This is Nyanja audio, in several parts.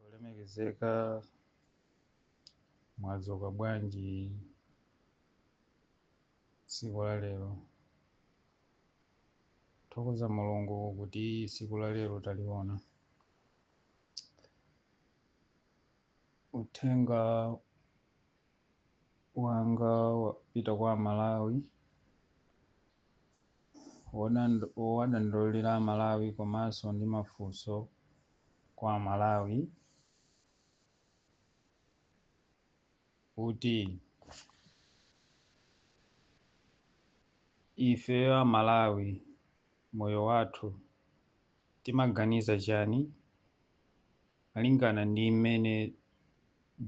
olemekezeka mwadzuka bwanji tsiku la lero thokoza mulungu kuti tsiku la lero taliona uthenga wanga wapita kwa amalawi wowadandaulira amalawi komanso ndi mafunso kwa amalawi kuti ife amalawi moyo wathu timaganiza chani Malingana ndi mmene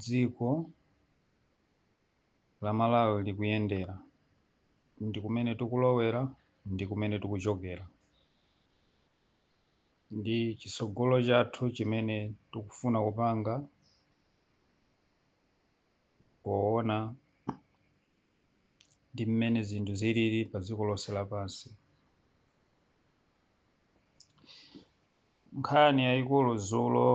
dziko la Malawi likuyendera ndi kumene tikulowera ndi kumene tikuchokera ndi chitsogolo chathu chimene tikufuna kupanga poona ndi mmene zinthu zilili pa dziko lonse lapansi, nkhani yayikulu dzulo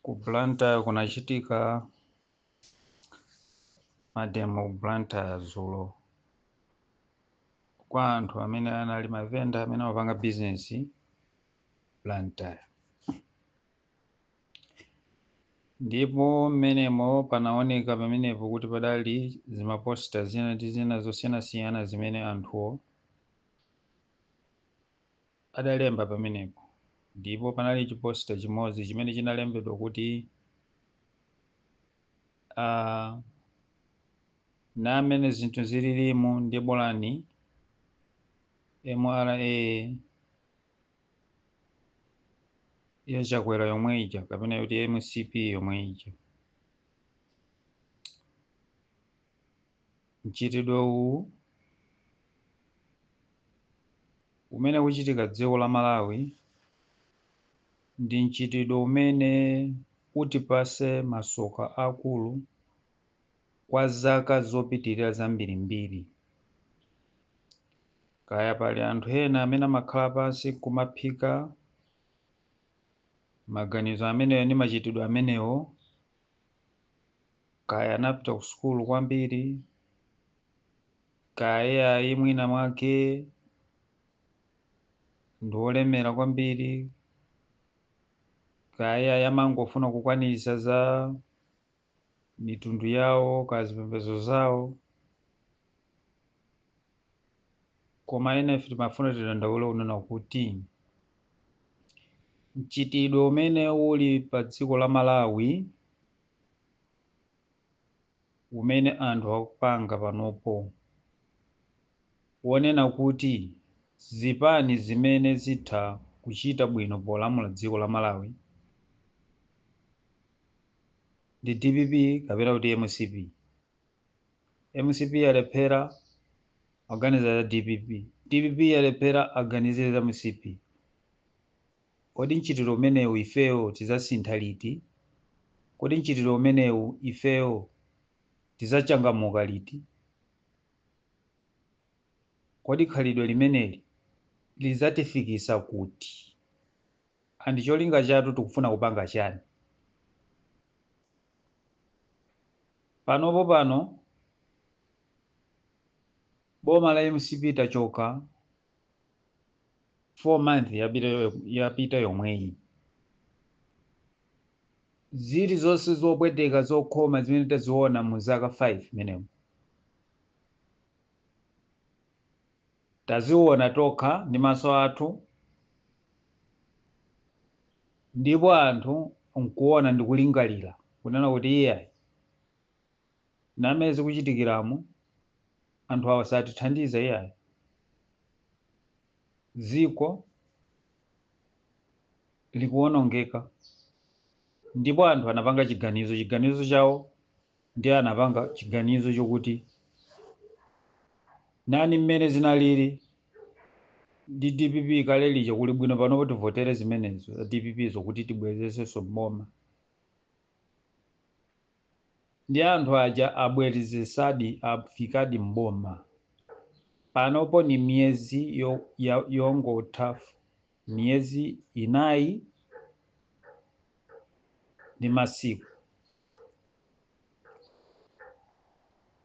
ku Blantyre kunachitika mademo ku Blantyre dzulo kwa anthu amene anali mavenda amene amapanga bizinesi Blantyre ndipo mmenemo panaoneka pamenepo kuti padali zimaposta zina ndi zina zosiyanasiyana zimene anthuwo adalemba pamenepo, ndipo panali chiposta chimodzi chimene chinalembedwa kuti ah, ndi mmene zinthu zililimu ndi bolani MRA ya Chakwera yomwe ija kapena kuti MCP yomwe ija Mchitidwe uwu umene ukuchitika dziko la Malawi ndi mchitidwe umene utipase masoka akulu kwa zaka zopitilira zambirimbiri. Kaya pali anthu ena amene amakhala pansi nkumaphika maganizo amenewo ndi machitidwe amenewo, kaya anapita ku sukulu kwambiri kaya ayi mwina mwake ndi olemera kwambiri kaya ayi amangofuna kukwanitsa za mitundu yawo kaya zipembedzo zawo koma ena ife timafuna tidandaule kunena kuti mchitidwe umene uli pa dziko la Malawi umene anthu akupanga panopo wonena kuti zipani zimene zitha kuchita bwino polamula dziko la Malawi ndi dpp kapena kuti mcp mcp yalephera aganiza za dpp dpp yalephera aganizire za mcp kodi mchitidwe umenewu ifeyo tidzasintha liti kodi mchitidwe umenewu ifeyo tidzachangamuka liti kodi khalidwe limeneli lidzatifikisa kuti and cholinga chathu tikufuna kupanga chani panopo pano boma la mcp litachoka 4 months yapita yomweyi zili zonse zopweteka zokhoma zimene taziona mu zaka 5 menemo Taziona tokha ndi maso athu, ndipo anthu nkuona ndi kulingalira, kunena kuti, Iyai, namene zikuchitikiramu, anthu awa satithandiza iyai. Dziko likuonongeka ndipo anthu anapanga chiganizo, chiganizo chawo ndiye anapanga chiganizo chokuti nani mmene zinalili ndi dpp kale lija kuli bwino panopo tivotere zimenezo za dpp zokuti tibwerezesenso mboma ndi anthu aja abwerezesadi afikadi mboma panopo ni miyezi yongotha miyezi inayi ndi masiku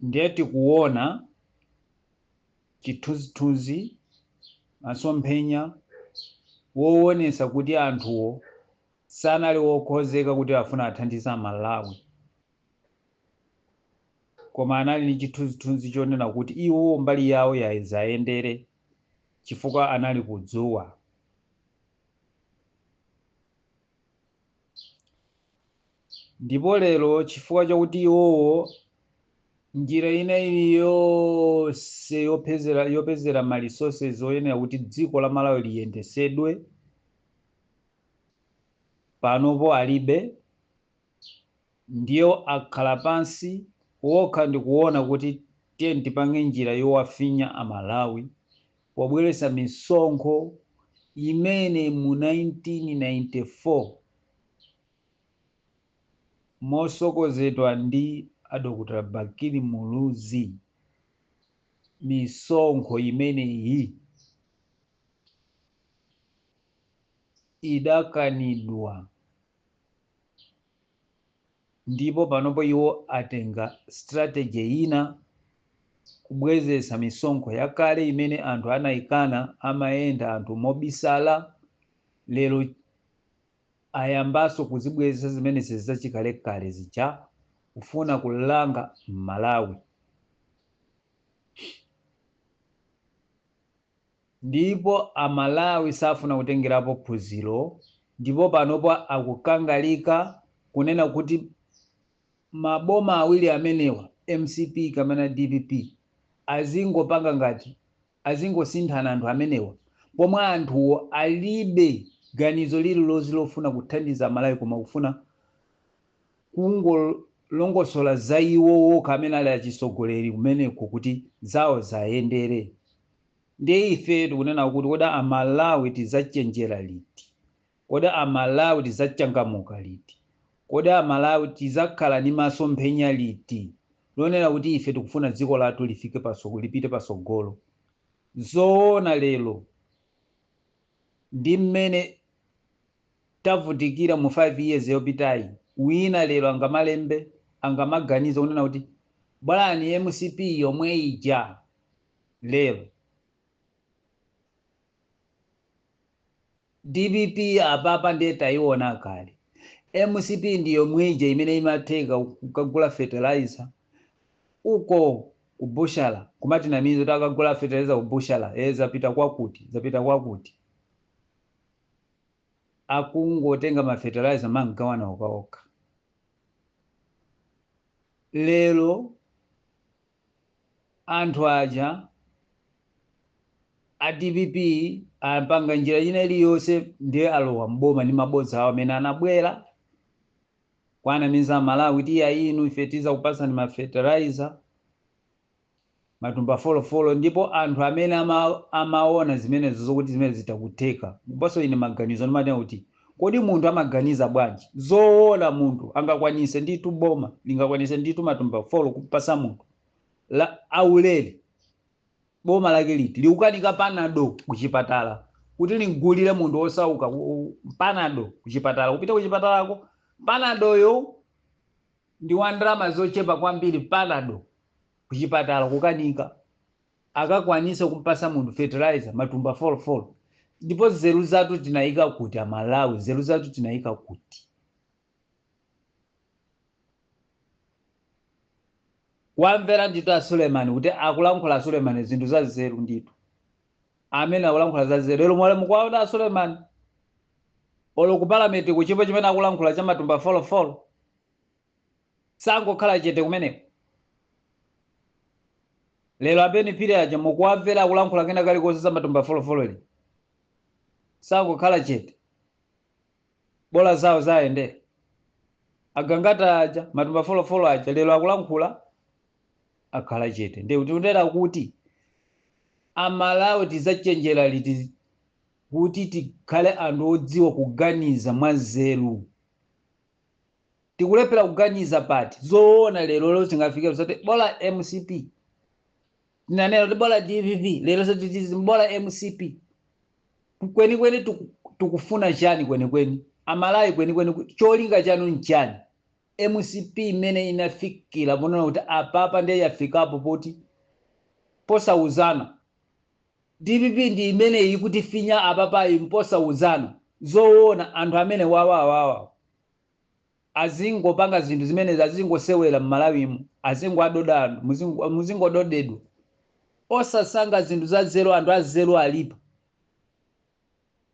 ndiye tikuona chithunzithunzi masomphenya woonesa kuti anthuwo sanali wokonzeka kuti afuna athandize amalawi koma anali ndi chithunzithunzi chonena kuti iwo mbali yawo yai ziwayendere chifukwa anali kudzuwa Ndipo lero, chifukwa chakuti iwowo, njira ina iliyonse yopezera, yopezera ma resources oyenera kuti dziko la Malawi liyendesedwe, panopo alibe, ndiye akhala pansi okha ndikuona kuti tiyeni tipange njira yowafinya a Malawi pobweretsa misonkho imene mu 1994, Motsogozedwa ndi a Dr Bakili Muluzi, misonkho imeneyi idakanidwa ndipo panopo iwo atenga strategy ina kubwezeretsa misonkho yakale imene anthu anaikana, amayenda anthu mobisala, lero ayambaso kuzibwezetsa zimenezi zachikalekale zija kufuna kulanga mmalawi ndipo amalawi safuna kutengerapo phunziro ndipo panopo akukangalika kunena kuti maboma awiri amenewa mcp kamena dpp azingopanga ngati azingosinthana anthu amenewa pomwe anthuwo alibe ganizo lililonse lofuna kuthandiza amalawi koma kufuna kungolongosola za iwo okha amene ali achitsogoleri kumeneko kuti zawo zayendere ndiye ife tikunena kuti kodi amalawi tizachenjera liti Kodi a Malawi tizachangamuka liti? Kodi a Malawi tizakhala ndi masomphenya liti lonena kuti ife tikufuna dziko lathu lifike, lipite patsogolo? Zoona lero ndi mmene tavutikira mu 5 years yopitayi, wina lero angamalembe, angamaganize kunena kuti bolani mcp yomwe ija lero? Dpp apapa ndiye taiona kale. Mcp ndi yomwe ija imene imatheka kukagula fertilizer uko ku bushala kumatinamiza kuti takagula fertilizer ku bushala ee zapita kwakuti zapita kwakuti. Akungotenga ma fertilizer mangogawana okhaokha. Lero. anthu aja a dpp apanga njira ina iliyonse ndiye alowa mboma ndi mabodza awo amene anabwera kuwanamiza amalawi kuti inu ife tizakupatsani ma fertilizer matumba folo folo ndipo anthu amene ama, amaona zimenezo zokuti zimenezi zitha kutheka ndiponso ine maganizo ndimati kuti Kodi munthu amaganiza bwanji? Zoona munthu angakwanise ndithu boma lingakwanise ndithu matumba folo kumpasa munthu aulere boma lake liti likukanika panado kuchipatala kuti limgulire munthu wosauka panado kuchipatala kupita kuchipatalako panadoyo ndi wa ndalama zochepa kwambiri panado kuchipatala kukanika akakwanise kumpasa munthu fertilizer matumba folo folo ndipo nzeru zatu tinaika kuti amalawi nzeru zatu tinaika kuti wamvera nditu a suleman kuti akulankhula a suleman zinthu za nzeru nditu amene akulankhula za nzeru lero mwalemukuwaona a suleman olo ku palamenti chilipo chimene akulankhula cha matumba folofolo sangokhala chete kumeneko lero abeni phiri aja mukuwamvera akulankhula kena kalikonse za matumba folofolo lii sangokhala chete bola zawo zayenda agangata aja matumba folofolo aja lero akulankhula akhala chete ndiye tikunena kuti amalawi tidzachenjera liti kuti tikhale anthu odziwa kuganiza mwanzeru tikulephera kuganiza pati zoona lero lero tingafikire zoti bola mcp tinanena kuti bola dpp lero zoti tiziti bola mcp kwenikweni tikufuna chani kwenikweni amalawi kwenikweni cholinga chanu nchani mcp imene inafikira ponena kuti apapa ndiye yafikapo poti posauzana Dpp ndi imeneyi ikutifinya apapayi mposauzana zowona anthu amene awawawa azingopanga zinthu zimenezi azingosewela mmalawimu azingoadoda anthu muzingododedwa osasankha zinthu zazelu anthu azelu alipo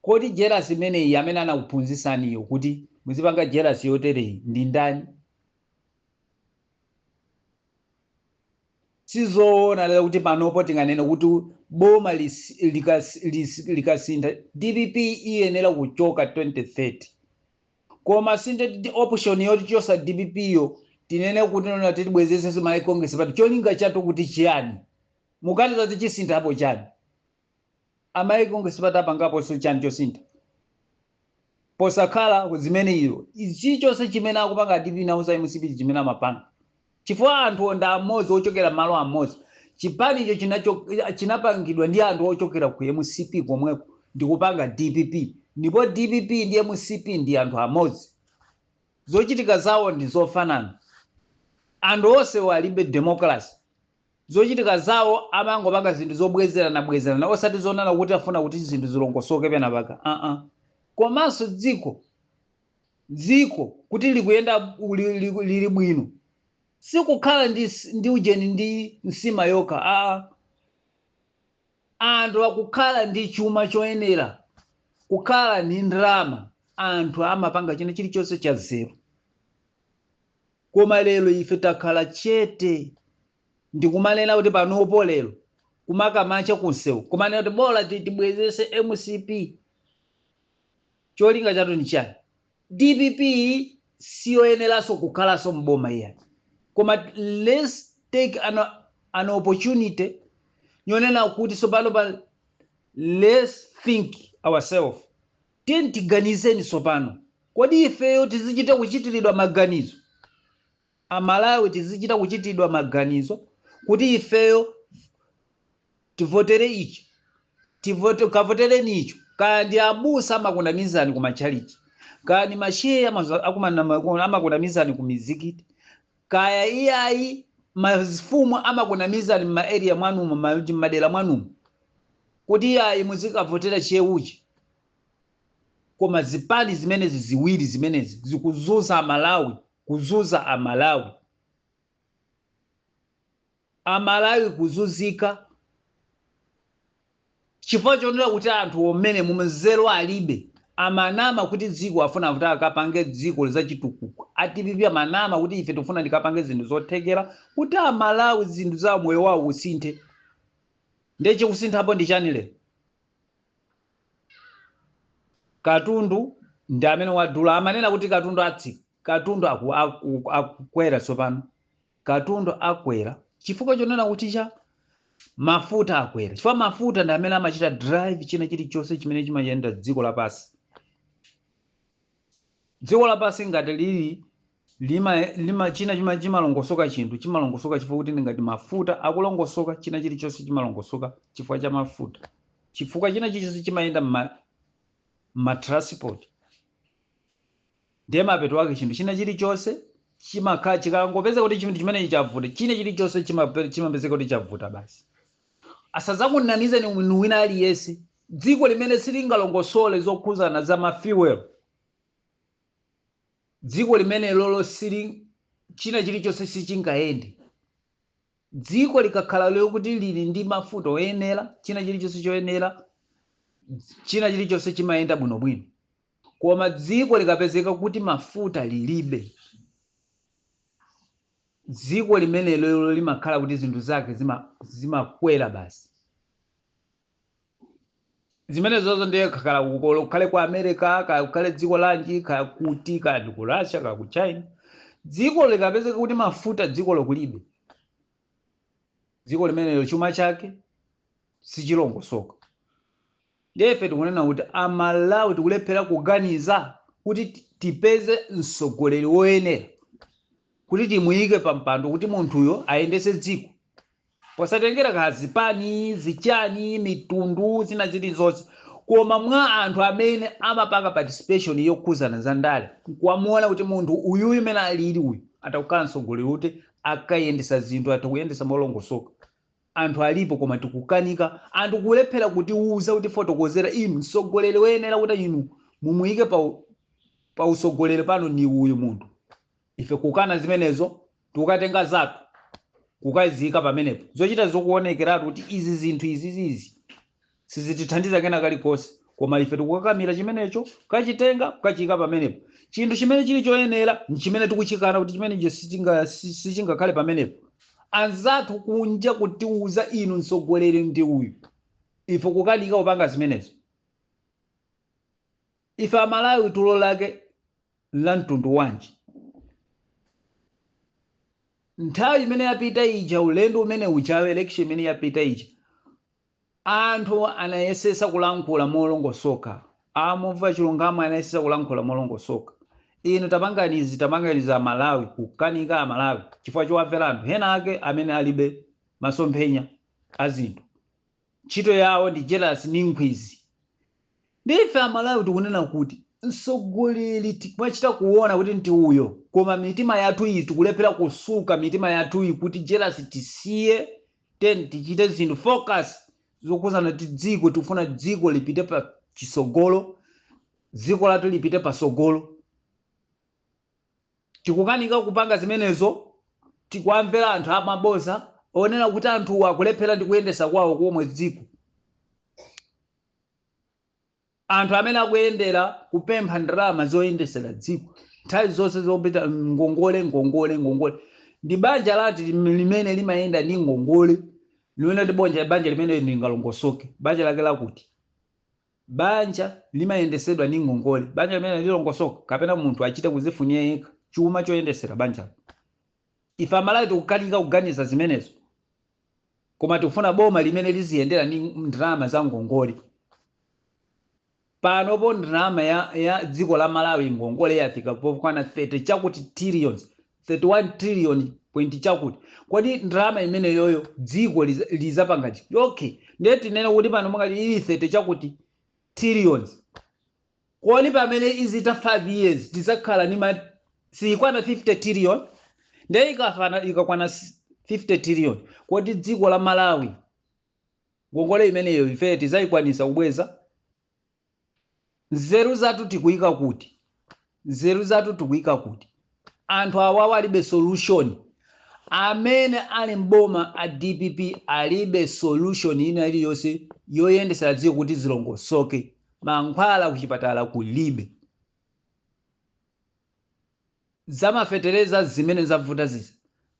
kodi jelasi imeneyi amene anakuphunzisaniyo kuti muzipanga jelasi yoteleyi ndindani? Si zoona lero kuti panopo tinganene kuti boma likasintha dpp iyenera kuchoka 2030 koma sindiye kuti option yoti tichose dpp yo tinene kuti no no tibwezesenso malawi congress party cholinga chatu kuti chiyani? Muganiza kuti chisinthapo chani? amalawi congress party apangaponso chani chosintha posakhala zimene izo chichonse chimene akupanga a dpp nawonso mcp chimene amapanga chifukwa anthu wo ndi amodzi ochokera malo amodzi chipanicho chinapangidwa ndi anthu ochokera ku mcp komweko ndikupanga dpp ndipo dpp ndi mcp ndi anthu amodzi zochitika zawo ndi zofanana anthu onse walibe democracy Zochitika zawo amangopanga zinthu zobwezerana bwezerana osati zoonana kuti afuna kuti zinthu zilongosoke penapake aa komanso dziko dziko kuti likuyenda li, li, lili bwino sikukhala ndi, ndi ujeni ndi nsima yokha aa anthu akukhala ndi chuma choyenera kukhala ndi ndalama anthu amapanga china chilichonse cha zeru Koma lero ife takhala chete ndi kumanena kuti panopo lero kumakamacha kunsewu kumanena kuti bola ti- tibwezese mcp cholinga chatu ndi chiyani dpp siyoyeneranso kukhalanso mboma iyayi koma let's take an, an opportunity yonena kuti tsopanopa let's think ourselves Tiyeni tiganizeni tsopano, kodi ifeyo tizichita kuchitiridwa maganizo? Amalawi tizichita kuchitiridwa maganizo kuti ifeyo tivotere ichi, tivote, kavotereni icho. Kaya ndi abusa amakunamizani ku matchalichi, kaya ndi mashehe amaza- akumana- amakunamizani ku mizikiti, kaya iyayi mafumu amakunamizani mma area mwanumo ma mmadera mwanumo kuti iyayi muzikavotera cheuchi koma zipani zimenezi ziwiri zimenezi zikuzunza amalawi kuzunza amalawi Amalawi kuzunzika chifukwa chonena kuti anthuwo amenewo mzeru alibe, amanama kuti dziko afuna kuti akapange dziko zachitukuko, a dpp amanama kuti ife tikufuna tikapange zinthu zothekera kuti amalawi zinthu za moyo wawo usinthe, nde chikusinthapo ndi chiyani lero? Katundu ndi amene wadula, amanena kuti katundu atsika, katundu akukwera tsopano. Katundu akwera chifukwa chonena kuti cha mafuta akwera chifukwa mafuta ndi amene amachita drive china chilichonse chimene chimayenda dziko lapansi. Dziko lapansi ngati lili lima, lima china chima chimalongosoka chinthu chimalongosoka chifukwa kuti ndi ngati mafuta akulongosoka china chilichonse chimalongosoka chifukwa cha mafuta chifukwa china chilichonse chimayenda mma ma transport Ndiye mapeto ake chinthu china chilichonse chimakhala chikangopeza kuti chinthu chimenechi chavuta, china chilichonse chimape- chimapezeka kuti chavuta basi. Asazakunamizeni munthu wina aliyense. Dziko limene silingalongosole zokhuzana za ma fuel, dziko limenelolo sili china chilichonse sichingayende. Dziko likakhala lokuti lili ndi mafuta oyenera, china chilichonse choyenera, china chilichonse chimayenda bwinobwino. Koma dziko likapezeka kuti mafuta lilibe, dziko limenelolo limakhala kuti zinthu zake zimakwera basi. Zimenezozo ndiye kaya kukhale ku America, kaya kukhale dziko lanji, kaya kuti, kaya ndi ku Russia, kaya ku China, dzikolo likapezeka kuti mafuta dzikolo kulibe, dziko limenelo chuma chake sichilongosoka ndiye ife tikunena kuti amalawi tikulephera kuganiza kuti tipeze mtsogoleri woyenera kuti timuyike pa mpando kuti munthuyo ayendetse dziko posatengera ka zipani zichani mitundu zina zilizonse koma mwa anthu amene amapanga participation yokhuzana za ndale nkuwamuona kuti munthu uyuyu mene alili uyu atakukhala mtsogoleri kuti akayendesa zinthu atha kuyendesa molongosoka anthu alipo koma tikukanika anthu kulephera kutiuza kutifotokozera inu mtsogoleri woyenera kuti inu mumuyike pa utsogoleri pano ni uyu munthu ife kukana zimenezo tukatenga zathu kukaziyika pamenepo zochita zokuonekeratu kuti izi zinthu izizizi Sizitithandiza kena kalikonse, koma ife tikukakamira chimenecho, kukachitenga, kukachiyika pamenepo. Chinthu chimene chiri choyenera, nchimene tikuchikana kuti chimenecho sichinga, si, sichingakhale pamenepo. Anzathu kunja kutiuza inu mtsogoleri ndi uyu. Ife kukanika kupanga zimenezo. Ife Amalawi tulo lake nla mtundu wanji? Nthawi imene yapita ija, ulendo umene ujawo, election imene yapita ija, Anthu anayesetsa kulankhula molongosoka. A Mumva Chilungamo anayesetsa kulankhula molongosoka. Inu tapangani izi, tapangani izi a Malawi kukanika a Malawi chifukwa chowamvera anthu ena ake amene alibe masomphenya a zinthu. Ntchito yawo ndi jelasi ndi nkhwidzi. Ndiye ife a Malawi tikunena kuti mtsogoleri timachita kuona kuti ndi uyo koma mitima yathu iyi tikulephera kusuka mitima yathuyi kuti jelasi tisiye then tichite zinthu focus zokhuzana ndi dziko tikufuna dziko lipite pa chitsogolo dziko lathu lipite pasogolo tikukanika kupanga zimenezo tikuwamvera anthu amaboza onena kuti anthu akulephera ndi kuyendesa kwawo komwe dziko Anthu amene akuyendera kupempha ndalama zoyendesera dziko nthawi zonse zopita ngongole ngongole ngongole ndi banja lati lim- limene limayenda ndi ngongole limene ndi banja banja limene lingalongosoke banja lake lakuti banja limayendesedwa ndi ngongole banja limene lilongosoka kapena munthu achite kuzifunira yekha chuma choyendesera banja ife amalawi tikukanika kuganiza zimenezo koma tikufuna boma limene liziyendera ndi ndalama za ngongole panopo ndalama ya, ya dziko la malawi ngongole yafika pokwana 30 chakuti trillions 31 trillion point chakuti kodi ndalama imeneyoyo dziko liza- lizapanga chiti okay ndiye tinene kuti pano mukali ili 30 chakuti trillions Kodi pamene izitha 5 years tizakhala ndi siyikwana 50 trillion nde ikakwana 50 trillion kodi dziko la Malawi ngongole imeneyo ifeyo tizayikwanisa kubweza? Nzeru zathu tikuyika kuti? Nzeru zathu tikuyika kuti? Anthu awawa alibe solution. Amene ali m'boma a dpp alibe solution ina iliyonse yoyendesera dziko kuti zilongosoke. Mankhwala kuchipatala kulibe. Zamafetereza zimene zavuta zizi.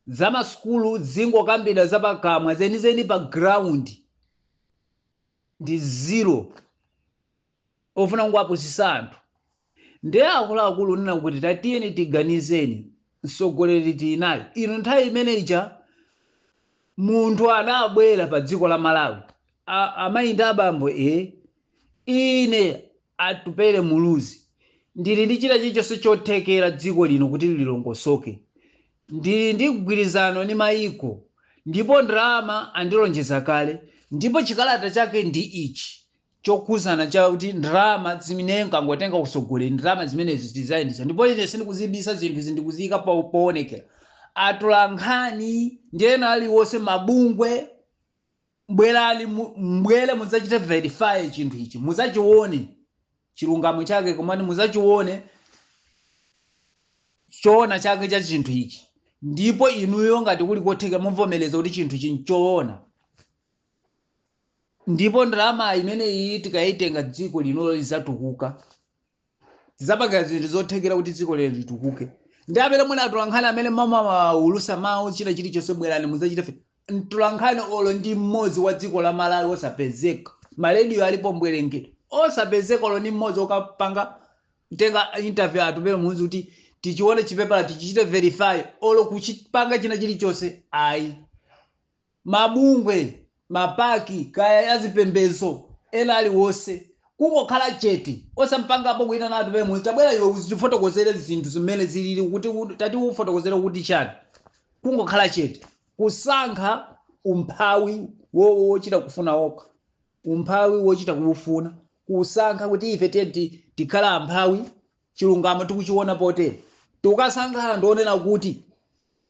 Zamasukulu zingokambidwa zapakamwa zenizeni pa ground ndi zero. ofuna kungowapusisa anthu nde akuluakulu unena kuti tatiyeni tiganizeni msogoleri tili naye inu nthawi imene ija munthu anabwera pa dziko la malawi A- amayi ndi abambo e ine atupele muluzi ndili ndi china chilichonse chothekera dziko lino kuti lilongosoke ndili ndi mgwirizano ndi mayiko ndipo ndalama andilonjeza kale ndipo chikalata chake ndi ichi chokhudzana cha kuti ndalama zimene nkangotenga utsogoleri ndalama zimenezi zizayendesa ndipo ine sindikuzibisa zinthu izi ndikuziyika poonekera atolankhani ndi ena aliwonse mabungwe mbwere mudzachite verify chinthu ichi mudzachione chilungamo chake komani mudzachione choona chake cha chinthu ichi ndipo inuyo ngati kuli kotheka muvomereza kuti chinthu ichi nchoona ndipo ndalama imeneyi tikayitenga dziko linolo lizatukuka tizapanga zinthu zothekera kuti dziko lino litukuke ndi amene muli atolankhani amene mumaulusa mawu china chilichonse bwerani muzachite mtolankhani olo ndi mmodzi wa dziko la malawi osapezeka marediyo alipo mbwerengere osapezeka olo ndi mmodzi okapanga kutenga interview atupele muluzi kuti tichione chipepala tichichite verify olo kuchipanga china chilichonse ayi mabungwe, mapaki, kaya a zipembedzo, ena aliwonse, kungokhala chete, osampangapo kuitana atupele muluzi, tabwera iwe uzitifotokozere zinthu zimene zilili kuti tatiufotokozere kuti chani, kungokhala chete, kusankha umphawi wo- wochita kufuna okha, umphawi wochita kuufuna, kusankha kuti ife tiyeni tikhale amphawi chilungamo tikuchiona potere tikukasangalala ndi onena kuti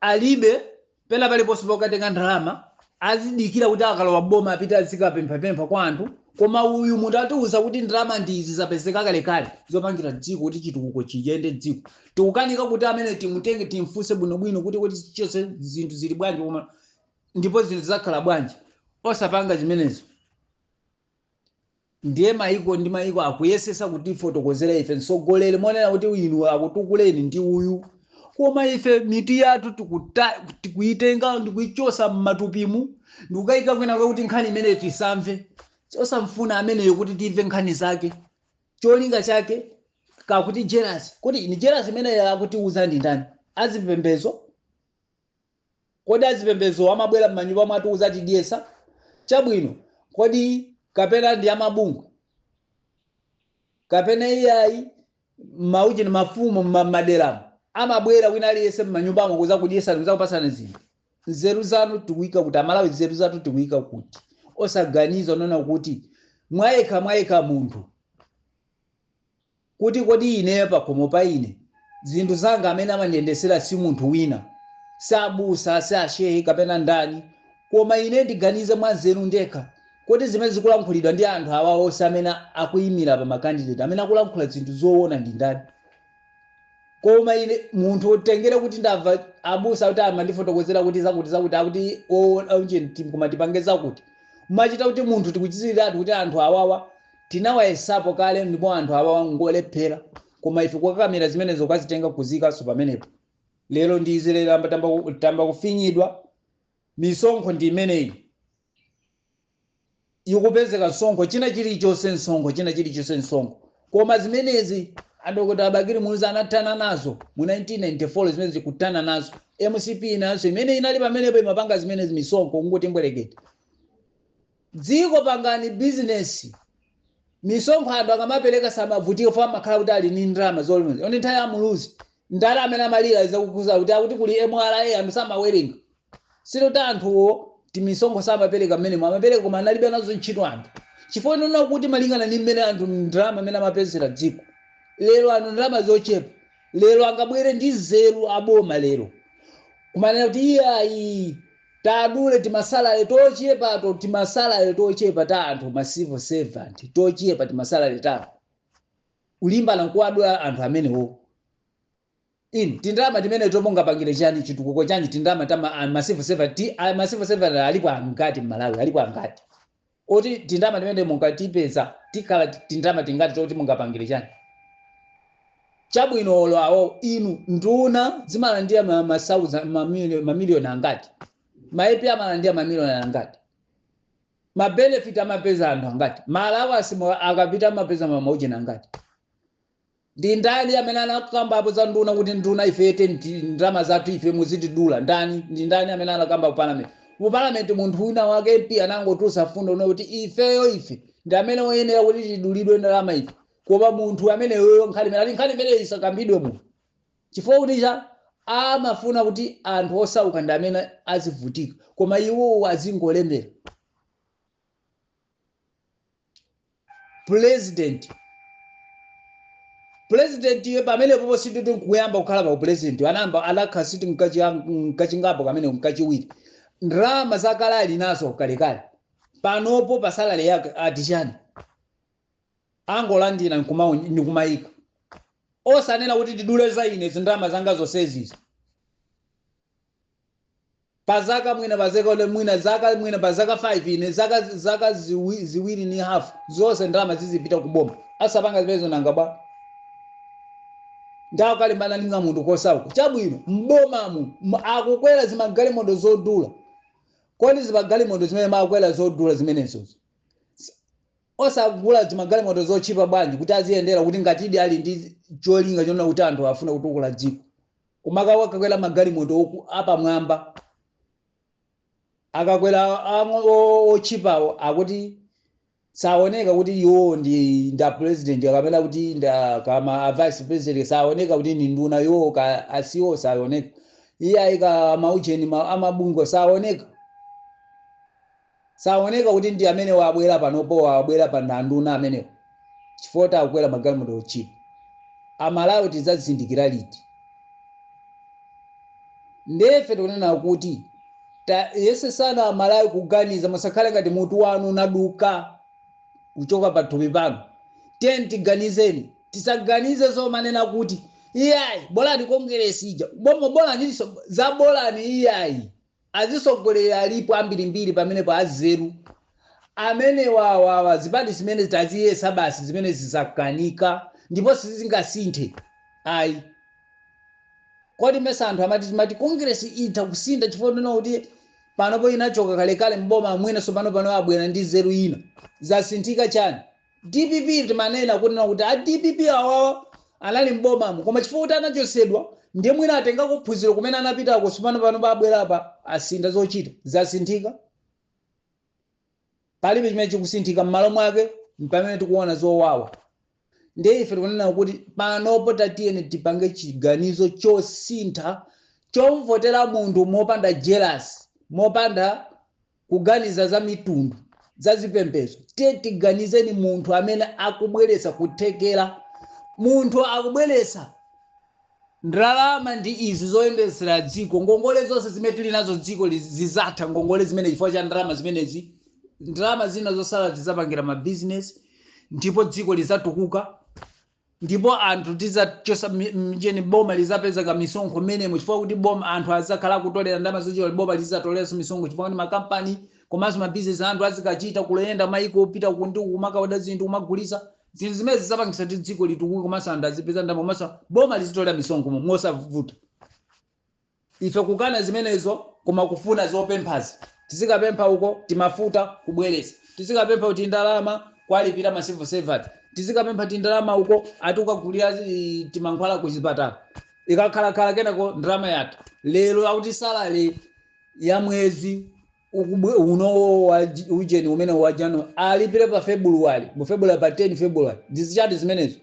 alibe pena paliponse pokatenga ndalama azidikira kuti akalowa m'boma apite azikapemphapempha kwa anthu koma uyu munthu atiuza kuti ndalama ndi izi zapezeka kalekale zopangira dziko kuti chitukuko chiyende ndiye ife tikukanika kuti amene timutenge timfunse bwinobwino kuti kuti chonse zinthu zili bwanji koma ndipo zinthu zizakhala bwanji osapanga zimenezo Ndiye maiko ndi maiko akuyesesa kutifotokozera ife mtsogoleri monena kuti inu akutukuleni ndi uyu, koma ife mitu yathu tikuta, tikuitenga ndikuichosa mmatupimu ndikukaika kwina kuti nkhani imeneyo tisamve, osamfuna ameneyo kuti timve nkhani zake, cholinga chake kakuti jealous. Kodi ni jealous imeneyo akutiuza ndi ndani? Azipembezo Kodi azipembezo amabwera m'manyumba mwathu kudzatidyetsa? Chabwino, kodi kapena ndi amabungwe? Kapena iyayi, maujeni mafumu m'ma m'maderamu amabwera wina aliyense m'manyumbamo kudzakudyetsani, kudzakupatsani zinthu? Nzeru zanu tikuika kuti, Amalawi nzeru zathu tikuika kuti? Osaganiza, monena kuti mwayekha mwayekha munthu. kuti kodi ineyo pakhomo pa ine zinthu zanga amene amandiyendesera si munthu wina, si abusa, si a shehe kapena ndani, koma ine ndiganize mwanzeru ndekha, kodi zimene zikulankhulidwa ndi anthu awa onse amene akuimira pa ma candidate amene akulankhula zinthu zoona ndi ndani? Koma ine munthu utengere kuti ndamva abusa akuti amandifotokozera kuti zakuti zakuti akuti oona ujeni koma tipange zakuti, machita kuti munthu tikudziwiratu kuti anthu awawa Tinawayesapo kale ndipo anthu awawa ngolephera koma ife kukakamira zimenezo kukazitenga kuziikanso pamenepo lero ndi izi lero amba tamba, tamba kufinyidwa misonkho ndi imeneyi ikupezeka msonkho china chilichonse msonkho china chilichonse msonkho koma zimenezi adokota bakili muluzi anathana nazo mu 1994 zimenezi kuthana nazo mcp nayonso imene inali pamenepo imapanga zimenezi misonkho kungoti mbwerekete dziko pangani business misonkho anthu akamapereka samavutika chifukwa amakhala kuti ali ni ndalama zolondola ndi nthawi ya muluzi nda amene amalira zakuuza kuti akuti kuli mra anthu samawerenga sikuti anthuwo timisonkho samapereka mmenemo amapereka koma analibe nazo ntchito anthu chifukwa chonena kuti malingana ni mmene anthu ndalama mmene amapezera dziko lero anthu ndalama zochepa lero angabwere ndi nzeru aboma lero kumanena kuti iyayi Tadule timasalale tochepato, timasalale tochepa ta anthu ma civil servant tochepa timasalale tawo ulimbana nkuwadula anthu amenewo tindalama timeneto mungapangire chani chitukuko chanji tindalama ta ma, ma civil servant ti, a, ma civil servant alipo angati m'malawi alipo angati Kodi tindama timene munkatipeza tikhala tindama tingati toti mungapangile chani chabwino olo awo inu nduna zimalandila ma ma thousand ma million ma million angati ma MP amalandila ma million angati ma benefit amapeza anthu angati ma allowance akapita amapeza ma maujeni angati Ndi ndani amene anakambapo za nduna kuti nduna ife te ti- ndalama zathu ife muzitidula ndani? Ndi ndani amene anakamba ku parliament? Ku parliament munthu wina wake MP anangotulutsa fundo yonena kuti ifeyo ife ndi amene oyenera kuti tidulidwe ndalama ife. Koma munthu ameneyoyo nkhani imene nkhani imeneyo isakambidwe muno. Chifukwa kuti chani amafuna kuti anthu osauka ndi amene azivutika koma iwowo azingolemera. president president iye pamene popo sikuti nkuyamba kukhala pa u president anayamba anakhala siti nkachingapo kamene nkachiwiri ndalama zakale ali nazo kalekale panopo pa salary yake ati chani angolandira nkuma- ndikumayika osanena kuti tidule za ine zindalama zanga zonsezizi Pa zaka mwina pa zaka olo mwina zaka mwina pa zaka 5 ine zaka zaka ziwi, ziwiri ndi half zonse ndalama zizipita ku boma asapanga zimenezo nanga bwanji awo akulimbana ndi kamunthu kosauka chabwino m'bomamu m- akukwera zimagalimoto zodula kodi zimagalimoto zimene amakwera zodula zimenezozo osagula zimagalimoto zotchipa bwanji kuti aziyendera kuti ngatidi ali ndi cholinga chonena kuti anthu afuna kutukula dziko Kumakakwera magalimoto oku apamwamba. Akakwera ang'o o otchipawo akuti saoneka kuti iwowo ndi a president kapena kuti ndi a kaya a vice president saoneka kuti ndi nduna iwowo ka a CEO saoneka. Iye aika maujeni amabungwe saoneka. Saoneka kuti ndi amenewa abwela panopowa abwela pa ndi anduna amenewa chifukwa choti akwela magalimoto otchipa amalawi tizazindikila liti nde ife tikunena kuti tayesetsani amalawi kuganiza musakhale ngati mutu wanu unaduka kuchoka pathupi panu tiyeni tiganizeni tisaganize zomanena kuti iyayi bolani kongelesi ija bomo bolani izo za bolani iyayi. Azitsogoleri alipo ambirimbiri pamenepo anzeru amenewa awawa zipani zimenezi taziyesa basi zimenezi zakanika ndipo sizingasinthe ayi kodi mesa anthu amati timati congress itha kusintha chifukwa chonena kuti panopo inachoka kalekale mboma mwina sopano pano abwera ndi nzeru ina zasinthika chani Dpp timanena kunena kuti a dpp awawa anali m'bomamo koma chifukwa kuti anachosedwa ndiye mwina atengako phunziro kumene anapitako sipano pano abwera apa asintha zochita zasinthika palibe chimene chikusinthika m'malo mwake mpamene tikuona zowawa ndiye ife tikunena kuti panopo tatiyeni tipange chiganizo chosintha chomvotera munthu mopanda jealous mopanda kuganiza za mitundu za zipembezo tie tiganizeni munthu amene akubweretsa kuthekera munthu akubweretsa ndalama ndi izi zoyendetsera dziko ngongole zonse zimene tili nazo dziko li- zizatha ngongole zimenezi chifukwa cha ndalama zimenezi ndalama zina zosala tizapangira mabizinesi ndipo dziko lizatukuka ndipo anthu tizachosa mi- ujeni boma lizapeza kamisonkho menemo chifukwa kuti boma anthu azakhala akutolera ndalama zochera boma lizatoleranso misonkho chifukwa kuti makampani komanso mabizinesi anthu azikachita kuyenda maiko kupita kunja kumakaoda zinthu kumagulisa zinthu zimene zizapangisa kuti dziko litukuke komanso anthu azipeza ndalama komanso boma lizitolera misonkho mo- mosavuta Ife kukana zimenezo koma kufuna zopemphazi tizikapempha uko timafuta kubwelesa tizikapempha tindalama kuwalipila ma civil servant tizikapempha tindalama uko ati kukagulila timankhwala kuchipatala ikakhalakhala kenako ndalama yatha lero akuti salary ya mwezi uno wa ujeni umene wa january alipile pa february mu february pa 10 february ndizichani zimenezo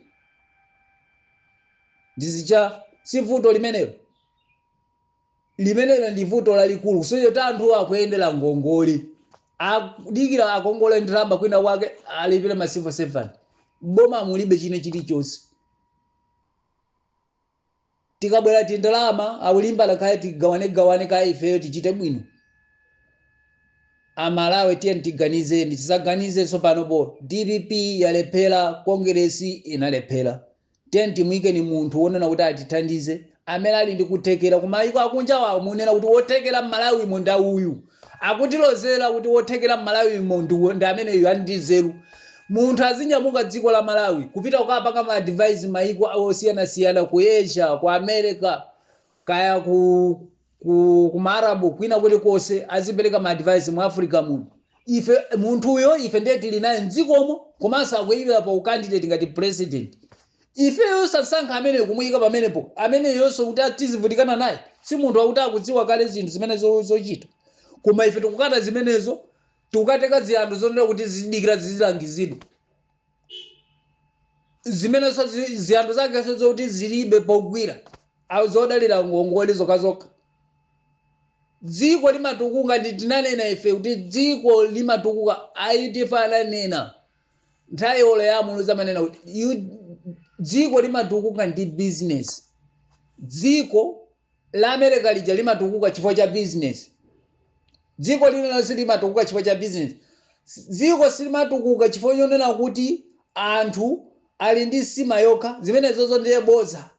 ndi zichani si vuto limenelo limenelo ndi vuto lalikulu kusonyeza kuti anthu akuyendera ngongole akudikira akongole ndalama kwina kwake alipire ma civil servant boma mulibe chine chilichonse tikabwera tindalama akulimbana kaya tigawane gawane kaya ifeyo tichite bwino amalawi tiyeni tiganizeni tisaganize zopanopo dpp yalephera kongeresi inalephera Tiyeni timuikeni munthu wonena kuti atithandize amene ali ndi kuthekera kumayiko akunjawo amunena kuti wothekera mmalawimo ndi uyu akutilozera kuti wothekera mmalawimo ndi ameneyo ali ndi nzeru munthu azinyamuka dziko la malawi kupita kukapanga ma advice mayiko osiyanasiyana ku asia ku america kaya ku ku kuma Arab kwina kulikose azipeleka ma advice mu Africa muno ife munthuyo ife ndiye tili naye mdzikomo komanso akuyimira pa candidate ngati president ifeyo osasankha amene kumuyika pamenepo ameneyonso kuti tizivutikana naye si munthu wakuti akudziwa kale zinthu zimene zo- zochita koma ife tikukana zimenezo tikukateka ziyanthu zonena kuti zidikira zizilangizidwa zimenezo zi- ziyambi zake zoti zilibe pogwira awo zodalira ngongole zokazokha dziko limatukuka ndi tinanena ife kuti dziko limatukuka aitifa ananena nthawi olo ya a Muluzi amanena kuti dziko limatukuka ndi bizinesi dziko la America lija limatukuka chifukwa cha business. Dziko lililonse limatukuka chifukwa cha business. Dziko silimatukuka chifukwa chonena kuti anthu ali ndi nsima yokha, zimenezozo ndiye bodza.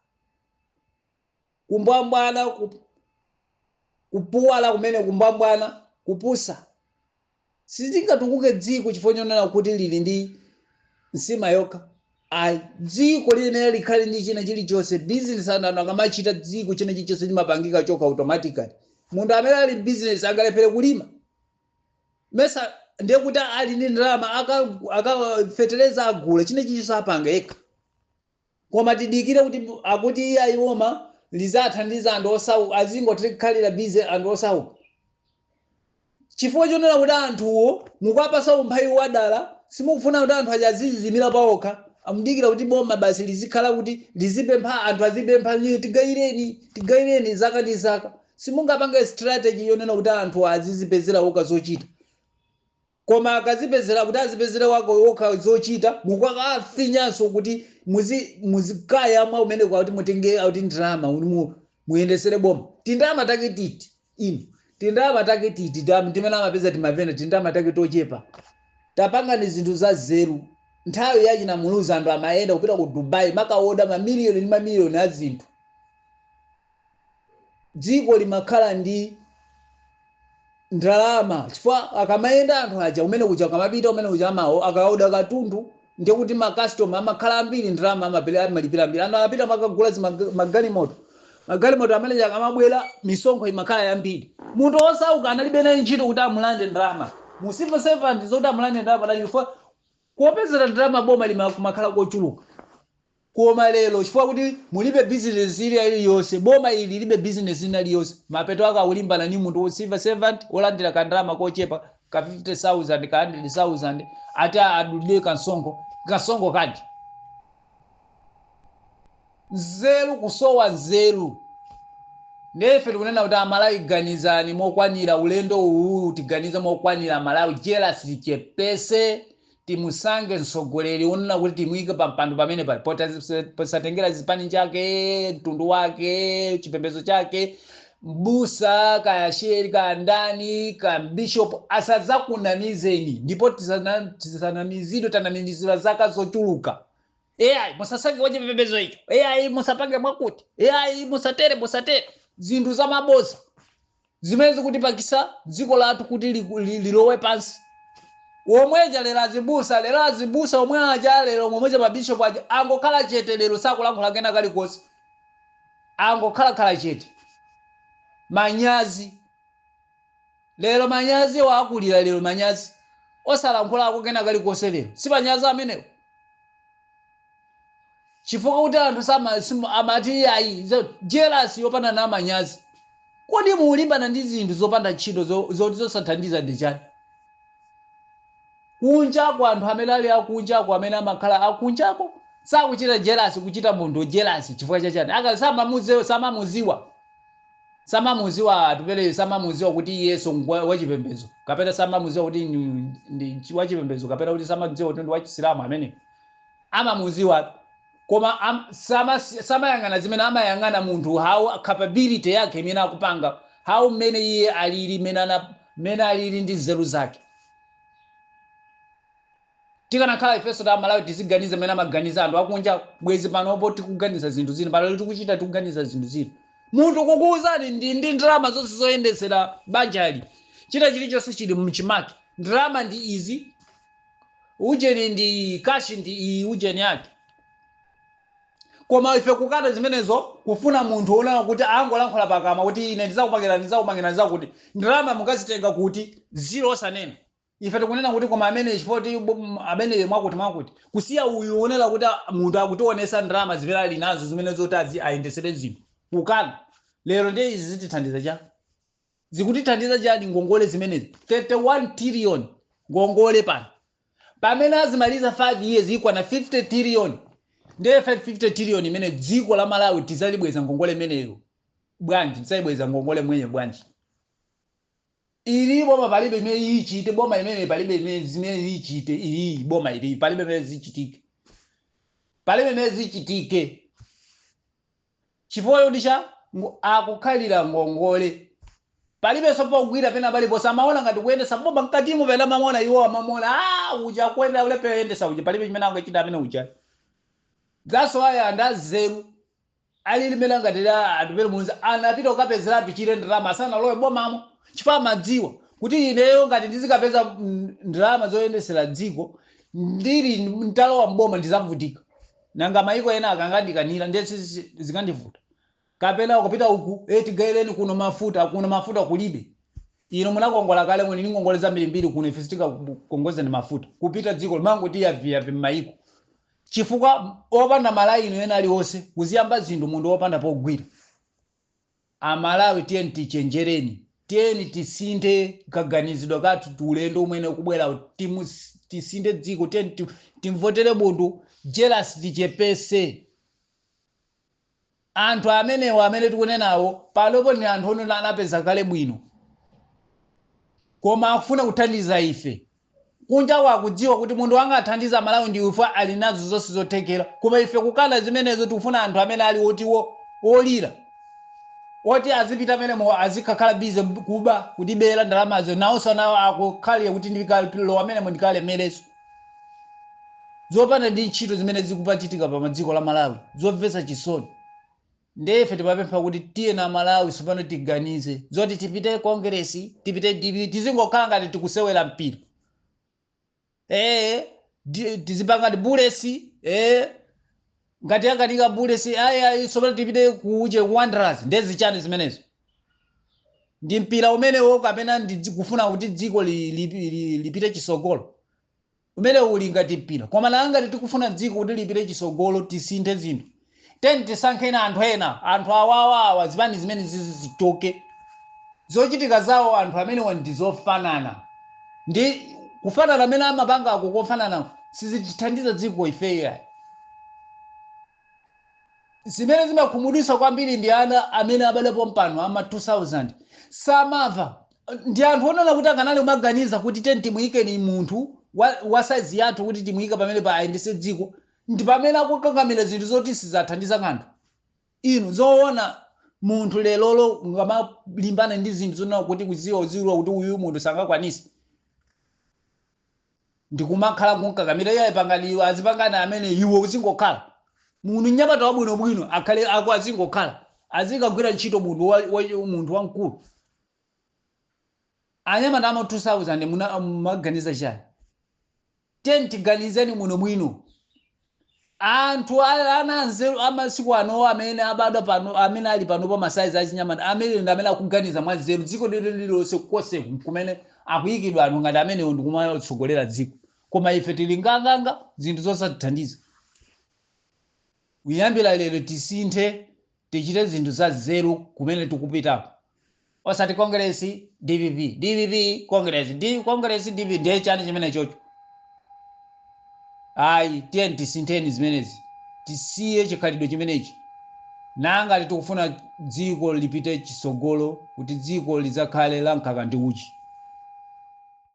Kumbwambwana, kupuwala kumene, kumbwambwana, kupusa. Silingatukuke dziko chifukwa chonena kuti lili ndi nsima yokha ayi. Dziko liyenera likhale ndi china chilichonse. Business anthu anthu akamachita dziko china chilichonse chimapangika chokha automatically. Munthu amene ali business angalephere kulima? Mesa ndiye kuti ali ndi ndalama aka kafeteleza agula china chilichonse apanga yekha. koma tidikire kuti akuti iyayi boma lizathandiza anthu osauka azingokhalira busy anthu osauka chifukwa chonena kuti anthuwo mukuwapasa umphawi wadala simukufuna kuti anthu aja aziziimira paokha mudikira kuti boma basi lizikhala kuti lizipempha anthu azipempha tigayireni tigayireni zaka ndi zaka simungapange strategy yonena kuti anthu azizipezera okha zochita Koma akazipezera kuti azipezere awo okha zochita mukukafinyanso kuti muzi muzikayamwa kumeneko akuti mutenge akuti ndalama kuti mu, muyendesere boma tindalama take titi inu tindalama take titi tam- timene amapeza timavena tindalama take tochepa tapangani zinthu za nzeru nthawi ya achina Muluzi anthu amayenda kupita ku Dubai amakaoda mamiliyoni ndi mamiliyoni a zinthu dziko limakhala ndi ndalama chifukwa akamayenda anthu aja kumene kuja akamapita kumene kuja amao- akaoda katundu ndiye kuti makastoma amakhala ambiri ndalama amapele- amalipira ambiri anthu amapita amakagula zimag- magalimoto magalimoto amene akamabwera misonkho imakhala yambiri munthu osauka analibe naye ntchito kuti amulande ndalama m'civil servant zoti amulande ndalama anali chifukwa kopezera ndalama boma kumakhala kochuluka Koma lero chifukwa kuti mulibe business ina iliyonse, boma ili lilibe business ina iliyonse, mapeto ake akulimbana ndi munthu wa civil servant wolandira ka ndalama kochepa ka 50,000 ka 100,000 ati adulidwe ka msonkho, ka msonkho kanji? Nzeru kusowa nzeru. Ndiye ife tikunena kuti a Malawi ganizani mokwanira ulendo uwuwu tiganize mokwanira a Malawi jealous tichepese timusange mtsogoleri wonena kuti timuike pampando pamene pa pota- posatengera zipani chake mtundu wake chipembedzo chake mbusa kaya shehe kaya ndani kaya mbishopu asadzakunamizeni ndipo tisana- tisanamizidwe tanamizidwa zaka zochuluka ai musasange kwa chipembedzo icho ai musapange mwakuti ai musatere musatere zinthu za maboza zimene zikutipangisa dziko lathu kuti liku, li, lilowe pansi omweja lero azibusa lero azibusa omwe aja lero omweja mabishopu aja angokhala chete lero sakulankhula kena kalikonse angokhala chete manyazi lero manyazi wa akulira lero manyazi osalankhulako kena kalikonse lero si manyazi amenewo chifukwa kuti anthu sama sima- amati iyayi zo- jealous yopanda na manyazi kodi mulimbana ndi zinthu zopanda ntchito zo- zoti zosathandiza ndi chani kunjako anthu amene ali akunjako amene amakhala akunjako sakuchita jealous kuchita munthu jealous chifukwa cha chani aka samamuzewe samamuziwa samamuziwa atupele samamuziwa kuti iyeyo ngwa- wachipembedzo kapena samamuziwa kuti ndi- ndi chi- wachipembedzo kapena kuti samamuziwa kuti ndi wachisilamu amene amamuziwa koma am, sama, samayang'ana zimene amayang'ana munthu how capability yake imene akupanga how mmene iye alili mmene ana- mmene alili ndi nzeru zake tikanakhala ifenso ta malawi tiziganiza mmene amaganiza anthu akunja bwezi panopo tikuganiza zinthu zina pano tikuchita tikuganiza zinthu zina munthu kukuwuzani ndi ndi ndalama zonse zoyendetsera banjali china chilichonse chili mchimake ndalama ndi izi ujeni ndi iyi kashi ndi iyi ujeni yake koma ife kukana zimenezo kufuna munthu wonena kuti angolankhula pakamwa kuti ine ndizakupangirani ndizakupangirani zakuti ndalama mukazitenga kuti ziro osanena ife tikunena kuti koma amene chifoti amene mwakuti mwakuti kusiya uyu wonena kuti a- munthu akutionesa ndalama zimene ali nazo zimene zoti azi ayendesere zinthu kukana lero ndiye izi zitithandiza chani zikutithandiza chani ngongole zimenezi 31 trillion ngongole pano pamene azimaliza 5 years ikwana 50 trillion ndiye 50 trillion imene dziko la malawi tizaibweza ngongole imeneyo bwanji tizaibweza ngongole imeneyo bwanji ili boma palibe imene iyichite boma imene palibe imene zimene iyichite iyi boma ili palibe imene zichitike palibe imene zichitike Chifukwa choti cha akukhalira ngongole. Palibenso pogwira pena paliponse. Amaona ngati kuyendetsa boma mkatimo pena amamuona iwo amamuona ah uja akuyenda ule pe oyendetsa uja palibe chimene angachita amene uja. That's why anthu anzeru alilimela ngati la atupere muluzi anapita kukapezeratu pachire ndalama asanalowe bomamo chifukwa amadziwa kuti ineyo ngati ndizikapeza mm, ndalama zoyendetsera dziko ndili mtalowa mboma ndizavutika. Nanga mayiko ena akangandikanira ndiye zikandivuta? Kapena kupita uku, ee tigaireni kuno mafuta, kuno mafuta kulibe. Inu munakongola kale muli ndi ngongole zambirimbiri kuno ife sitingakukongozeni mafuta. Kupita dziko limangoti yaviyavi m'mayiko. Chifukwa opanda malaini ena aliwonse kuziyamba zinthu munthu opanda pogwira. Amalawi tiyeni tichenjereni, tiyeni tisinthe kaganizidwe kathu ulendo umene ukubwerawu tisinthe dziko tiyeni ti- timvotere munthu jealous tichepetse anthu amenewo amene tikunenawo panopo ni anthu onena anapeza kale bwino koma akufuna kuthandiza ife kunja akudziwa kuti munthu angathandize amalawi ndi ife ali nazo zonse zothekera koma ife kukana zimenezo tikufuna anthu amene ali oti olira oti azipita menemo azikhakhala bize kuba kutibera ndalamazo nawonso nawo akukhalira kuti ndikalowa menemo ndikalemerenso zopanda ndi ntchito zimene zikumachitika pa dziko la malawi zomvetsa chisoni Ndiye ife timapempha kuti tiyeni a Malawi tsopano tiganize zoti tipite Kongeresi, tipite dpp, tizingokhala ngati tikusewera mpira. Ee, di- tizipanga ngati Bullets, ee, ngati yakanika Bullets, ayi ayi, tsopano tipite kuuje Wanderers, ndiye zichani zimenezo? Ndi mpira umenewo kapena ndi dzi- kufuna kuti dziko li- li- li- lipite chisogolo? Umenewu uli ngati mpira koma ngati tikufuna dziko kuti lipite chisogolo tisinthe zinthu tiyeni tisankheni anthu ena anthu awawa awa zipani zimenezizi zichoke zochitika zawo anthu amenewa ndizofanana ndi kufanana amene amapanga ako kofanana sizitithandiza dziko ifeyo ayi. Zimene zimakhumudwitsa kwambiri ndi ana amene abadwa pompano a ma 2000 samamva ndi anthu onena kuti akanati kumaganiza kuti tiyeni timuyikeni munthu wa wa size yathu kuti timuyike pamenepa ayendetse dziko ndipamene akukakamira zinthu zoti sizathandiza kanthu. Inu zoona munthu lerolo mukamalimbana ndi zinthu zonena kuti kudziwa kuti uyu munthuyu sangakwanise. ndikumakhala kumkakamira iye pangani iwo azipanga amene iwo uzingokhala munthu nyamata wabwinobwino akhale ako azingokhala azikagwira ntchito munthu wa, wa, munthu wamkulu anyamata ama 2000 muna- mumaganiza chani tiyeni tiganizeni bwinobwino Anthu a, ana anzeru a masiku ano amene abadwa pano, amene ali panopa masaizi achinyamata amene ndi amene akuganiza mwanzeru. Dziko lililonse konseku kumene akuyikidwa anthu ngati amene ndi kumatsogolera dziko. Koma ife tili nganganga, zinthu zosatithandiza. Kuyambira lero tisinthe Tichite zinthu za nzeru kumene tikupitako osati Kongeresi, dpp, dpp, Kongeresi, di, Kongeresi, dpp, ndiye chani chimenechocho? Ayi, tiyeni tisintheni zimenezi, tisiye chikhalidwe chimenechi nangati tikufuna dziko lipite chitsogolo kuti dziko lidzakhale la mkaka ndi uchi.